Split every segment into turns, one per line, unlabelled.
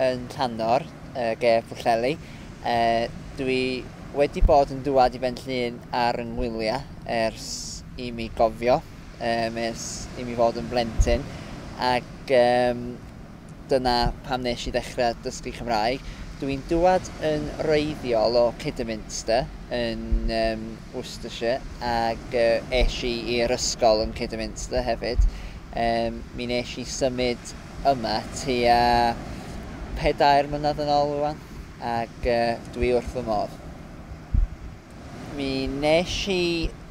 yn rhannwr y gef Pwllheli. Dwi wedi bod yn dŵad i Benllyn ar yng ngwyliau ers i mi gofio, um, ers i mi fod yn blentyn. Ac um, dyna pam nes i ddechrau dysgu Cymraeg. Dwi'n dŵad yn reiddiol o Kidderminster yn um, Worcestershire ac uh, eisiau i'r ysgol yn Kidderminster hefyd. Um, mi nes i symud yma tua pedair mlynedd yn ol rwan ac dwi wrth fy modd. Mi nesh i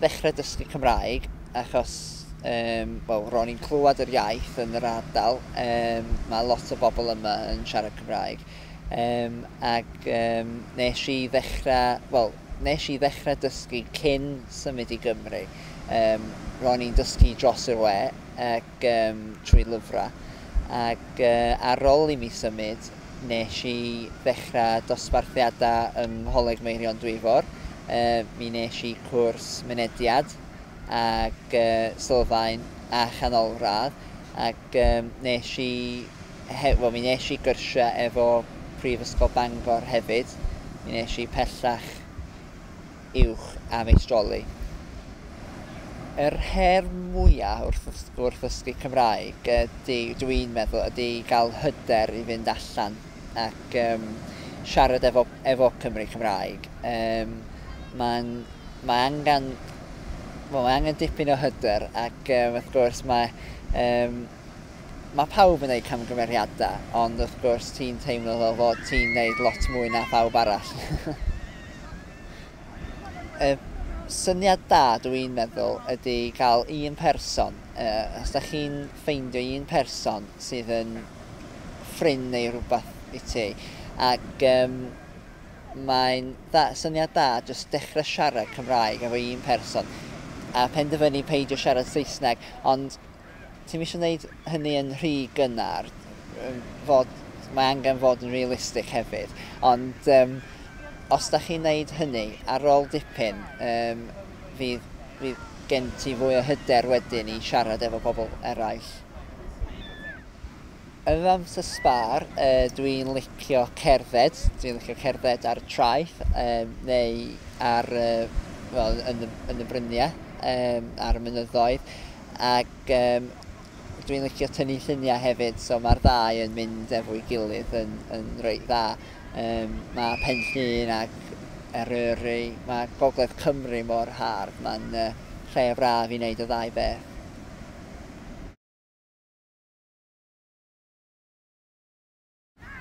ddechre dysgu Cymraeg achos yym wel ro'n i'n clywad yr iaith yn yr ardal yym ma' lot o bobl yma yn siarad Cymraeg yym ac yym nesh i ddechre wel nesh i ddechre dysgu cyn symud i Gymru yym ro'n i'n dysgu dros yr we ac yym trwy lyfrau ac yy ar ol i mi symud nesh i ddechra dosbarthiada yng Ngholeg Meirion Dwyfor yy mi nesh i cwrs Mynediad ac yy Sylfaen a Chanolradd ac yym nesh i he- wel mi nesh i gyrsia efo Prifysgol Bangor hefyd mi nesh i pellach uwch am ei stroli. Yr her mwya wrth wrth ddysgu Cymraeg ydi, dw i'n meddwl, ydi gael hyder i fynd allan ac yym siarad efo efo Cymry Cymraeg. Yym ma'n mae angan wel mae angen dipyn o hyder ac yym wrth gwrs mae yym mae pawb yn gwneud camgymeriadau ond wrth gwrs ti'n teimlo fel fod ti'n wneud lot mwy na phawb arall. y syniad da dw i'n meddwl ydy cael un person, uh, os da chi'n ffeindio un person sydd yn ffrind neu rhywbeth i ti, ac um, mae'n da, syniad da jyst dechrau siarad Cymraeg efo un person a penderfynu peidio siarad Saesneg, ond Ti'm isio neud hynny yn rhy gynnar, fod, mae angen fod yn realistic hefyd, ond yym os da chi'n neud hynny, ar ol dipyn yym fydd, fydd gen ti fwy o hyder wedyn i siarad efo pobl eraill. Yr amser sbâr, dwi'n licio cerdded, dwi'n licio cerdded ar y traeth, neu ar, wel, yn y, yn y bryniau, um, ar y mynyddoedd, ac um, dwi'n licio tynnu lluniau hefyd, so mae'r ddau yn mynd efo'i gilydd yn, yn reit dda. Um, mae Pen Llŷn ac Eryri, mae Gogledd Cymru mor hardd, mae'n uh, lle braf i wneud y ddau beth.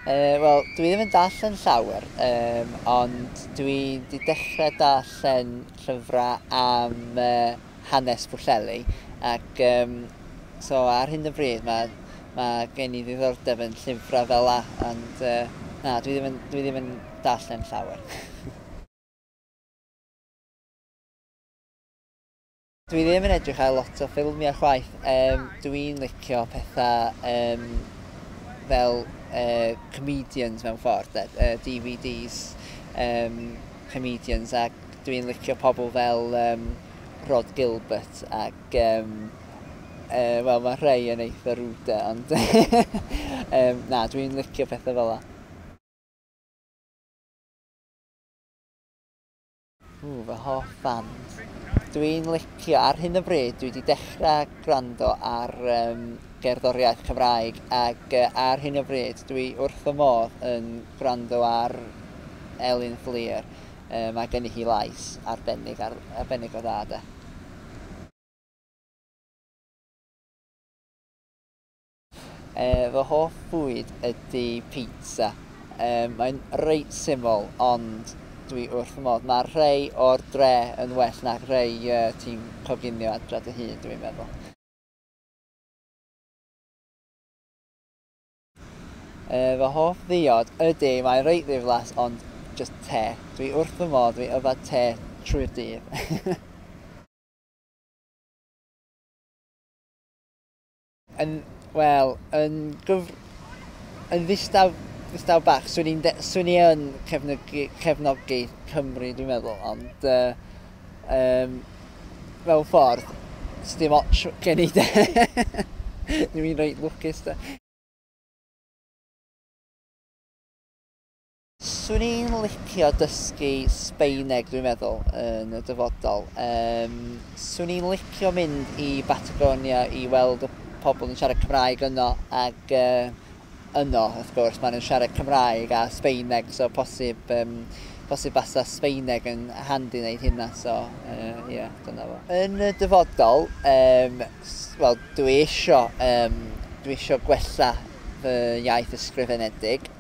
Uh, Wel, dwi ddim yn darllen llawer, um, ond dwi wedi dechrau darllen llyfrau am uh, hanes Pwllheli. Ac um, so ar hyn o bryd mae, mae gen i ddiddordeb yn llyfrau fel la, ond uh, na, dwi ddim yn, dwi ddim yn darllen llawer. Dwi ddim yn edrych ar lot o ffilmiau chwaith, yym dwi'n licio pethau yym fel yy comedians mewn ffordd 'de, yy DVDs yym comedians ac dwi'n licio pobl fel yym Rhod Gilbert ac yym yy wel ma' rhei yn eitha rude ond yym na dwi'n licio pethau fela. Ww, fy hoff band. Dwi'n licio, ar hyn o bryd, dwi wedi dechrau gwrando ar um, gerddoriaeth Cymraeg ac uh, ar hyn o bryd dwi wrth fy modd yn gwrando ar Elin Fflir. Um, mae gen i hi lais arbennig, ar, arbennig o dda de. Fy hoff fwyd ydi pizza. Mae'n reit syml ond dwi wrth fy modd. Mae rhei o'r dre yn well na rhei ti'n coginio adra dy hun, dwi'n meddwl. Fy hoff ddiod, ydi, mae'n reit ddiflas ond jyst te. Dwi wrth fy modd, dwi yfed te trwy'r dydd. Yn, wel, yn gyf... yn ddistaw, ddistaw bach, swn i'n de- swn i yn cefnogi, cefnogi Cymru, dwi'n meddwl, ond uh, um, mewn ffordd, sdim ots gen i de. Dwi'n reit lwcus de. Swn i'n licio dysgu Sbaeneg dwi'n meddwl yn y dyfodol. Um, swn i'n licio mynd i Batagonia i weld y pobl yn siarad Cymraeg yno ac uh, yno, wrth gwrs, maen nhw'n siarad Cymraeg a Sbaeneg, so posib, um, posib basa Sbaeneg yn handi wneud hynna, so ie, uh, yeah, dyna fo. Yn y dyfodol, um, wel, dwi eisiau, um, dwi eisiau gwella fy iaith ysgrifenedig,